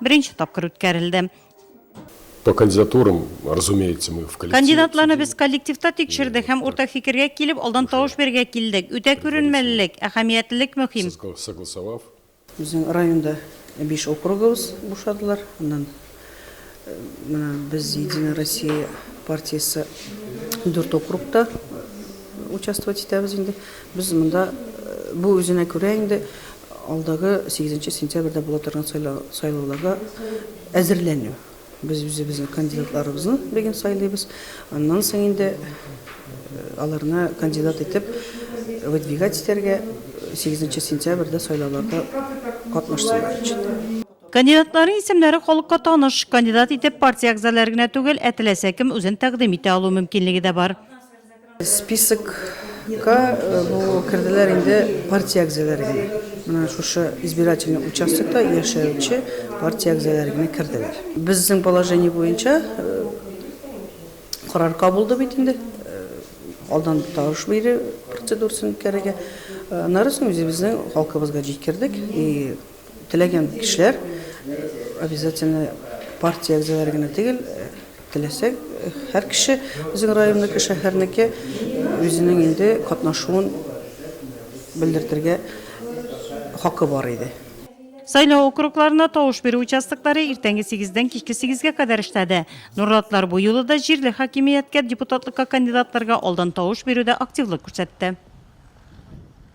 Беренче тапкыр үткәрелде. По кандидатурам, разумеется, мы в коллективе. Кандидатларны без коллективта тикшердек һәм уртак фикергә килеп, алдан тавыш бирергә килдек. Үтә күренмәлелек, әһәмиятлелек мөһим. Согласовав. Безнең районда биш округыбыз бушадылар. Аннан менә без Единая Россия партиясе дүрт округта участвовать итәбез инде. Без монда бу үзенә күрә инде алдагы сигезенче сентябрьдә була торган сайлауларга әзерләнү. Без үзебезнең кандидатларыбызны бүген сайлыйбыз. Аннан соң инде аларны кандидат итеп выдвигать итәргә сигезенче сентябрьдә сайлауларда катнашсыннар өчен. Кандидатларның исемнәре халыкка таныш. Кандидат итеп партия әгъзалары гына түгел, ә теләсә кем үзен тәкъдим итә алу мөмкинлеге дә бар. Списокка бу керделәр инде партия әгъзалары гына. Менә шушы избирательный участокта яшәүче партия әгъзалары гына керделәр. Безнең положение буенча карар кабулды бит инде, алдан тавыш бирү процедурасын үткәрергә. Аннары соң үзебезнең халкыбызга җиткердек и Теләгән кешеләр обязательно партия әгъзалары гына түгел, теләсә һәр кеше безнең районныкы, шәһәрнеке үзенең инде катнашуын белдертергә хакы бар иде. Сайлау округларына тавыш бирү участоклары иртәнге сигездән кичке сигезгә кадәр эшләде. Нурлатлар бу юлы да җирле хакимияткә депутатлыкка кандидатларга алдан тавыш бирүдә активлык күрсәтте.